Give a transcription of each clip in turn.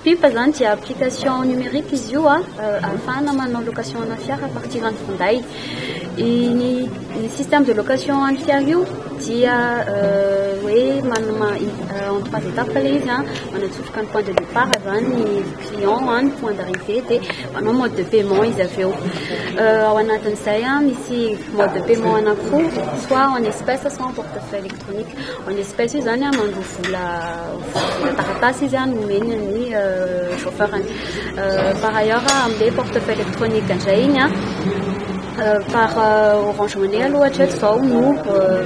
Pipa zany dia application numérique izy io a euh, ahafahana manao location ana fiara à partir any finday ny système de location any fiara io dia euh, hoe manoma euh, en trois étapes le izy a manatsofoka ny point de départ zany ny client a ny point d'arrivée dia manao mode de paiement izy avy eo ao anatin'izay a misy mode de paiement anankiroa soit en espèce soit en portefeuille En espèce io zany mandroa vola vola taratasy izy no omeny ny chauffeur ny par ailleurs amle portefeuille électronique ndray iny par orange money aloha hatreto zao no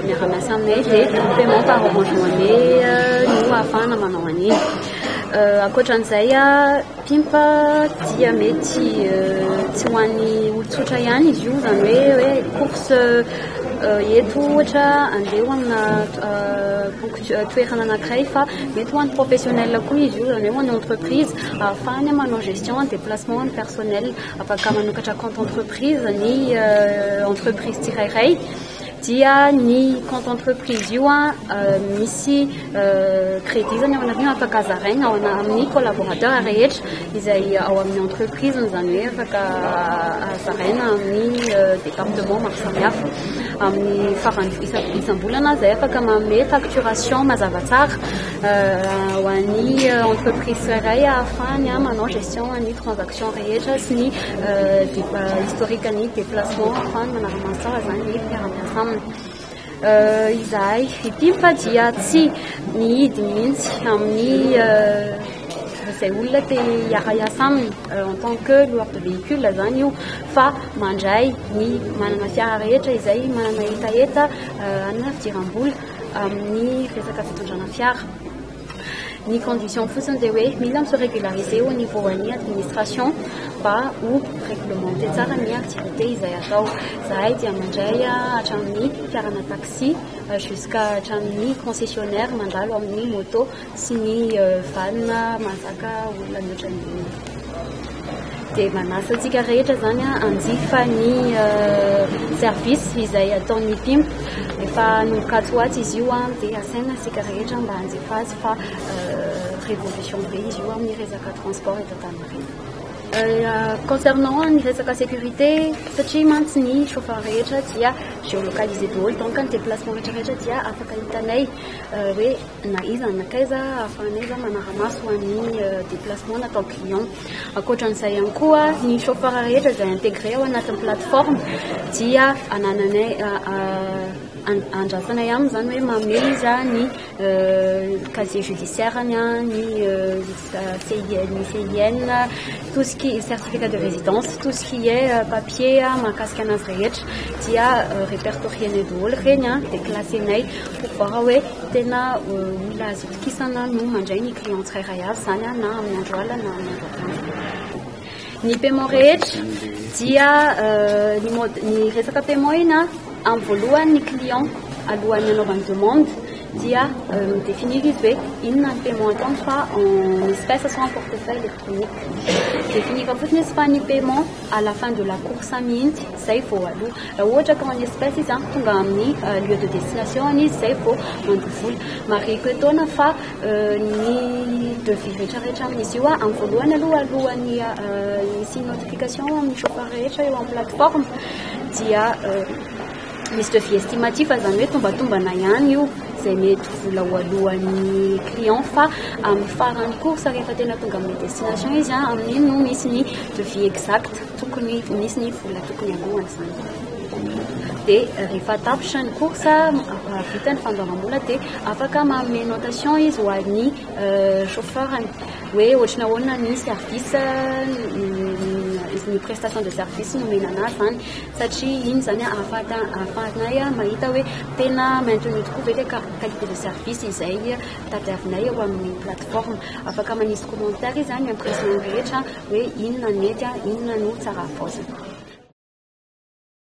miara-miasa aminay de paiement par orange money no ahafahana manao an'iny ankoatran'izay Pimpa dia mety tsy ho an'ny olon-tsotra ihany izy io, izany hoe hoe course eto ohatra andeha ho amina toerana anankiray fa mety ho an'ny professionnel koa izy io, izany hoe ho an'ny entreprise ahafahany manao gestion ny déplacement ny personnel, afaka manokatra compte entreprise ny entreprise tsirairay. dia ny compte entreprise io misy crédit zany ao anatiny afaka zaraina ao amin'ny collaborateur rehetra izay ao amin'ny entreprise izany hoe afaka zaraina amin'ny euh, département maro samihafa amin'ny farany isam-bolana zay afaka manome facturation mazava tsara euh, ho an'ny euh, entreprise iray ahafahany manao gestion an'ny transaction rehetra sy ny Débat historique ny déplacement fa manara-maso tsara izany ny mpiara-miasa aminy. Euh, izahay ity fa dia tsy mihidy mihitsy amin'ny euh, izay olona te hiara-hiasa aminy euh, en tant que loueur de véhicule zany io fa mandray ny manana fiara rehetra izay manana hetaheta anina fidiram-bola amin'ny resaka fitondrana fiara Ny condition fotsiny dia hoe mila mi se regulariser au niveau an'ny administration mba ho reglementer tsara ny activité izay atao. Zahay dia mandray hatramin'ny mpiarana taxi jusqu'à hatramin'ny concessionnaire mandalo amin'ny moto sy ny van mahazaka olona mihoatra ny dia manasa antsika rehetra izany hanjifa ny service izay ataon'ny pimp efa nokatso ho atsy izy io an dia asaina antsika rehetra mba hanjifa azy fa révolution be izy io amin'ny resaka transport eto Antaninarenina concernant ny resaka sécurité satria mantsy ny chauffeur rehetra dia géolocalisé daholo donc ny déplacement rehetra rehetra dia afaka hitanay hoe Na iza na nakaiza ahafahanay zany manara-maso an'ny déplacement natao client. Ankoatran'izay ihany koa, ny chauffeur rehetra izay intégré ao anatin'ny plateforme dia anananay andrasanay aminy izany hoe mamehy iza ny casier judiciaire-ny, ny CIN, CIN, tout ce qui est certificat de résidence, tout ce qui est euh, papier hein, mahakasika anazy rehetra dia euh, répertorienay daholo ireny hein, dia classenay pour voir hoe tena euh, olona azo itokisana no mandray ny client tsirairay avy izany hein, na amin'ny andro alina na amin'ny andro atoandro ny paiement rehetra dia ny mode ny resaka paiement ina amin'ny voalohany ny client alohan'ny anaovany demande dia mi-definir izy hoe inona ny paiement ataony fa en espèce sa en portefeuille électronique. Definir fotsiny izy fa ny paiement à la fin de la course mihitsy izay vao aloha. Raha ohatra ka en espèce izy tonga amin'ny euh, lieu de destination any izy izay vao mandoa vola. Marihiko etoana fa euh, ny devis rehetrarehetra amin'izy io amin'ny voalohany aloha alohan'ny euh, misy notification amin'ny chauffeur rehetra eo amin'ny plateforme dia Misy devis estimatif izany hoe tombatombana ihany io izay mety ho vola ho alohan'ny client fa amin'ny faran'ny course rehefa tena tonga amin'ny destination izy an, amin'iny no misy ny devis exact tokony misy ny vola tokony alohan' izany. Dia rehefa tapitra ny course, vita ny fandoavam-bola dia afaka manome notation izy ho an'ny chauffeur-ny hoe ohatry ny ahoana ny service, ny prestation de service nomena an'azy izany. satria iny izany ahafahanay mahita hoe tena maintenu tokoa ve ilay qualité de service izay tadiavinay eo amin'ny plateforme. Afaka manisy commentaire izy amin'ny impression rehetra hoe inona no nety, inona no tsara havaozina.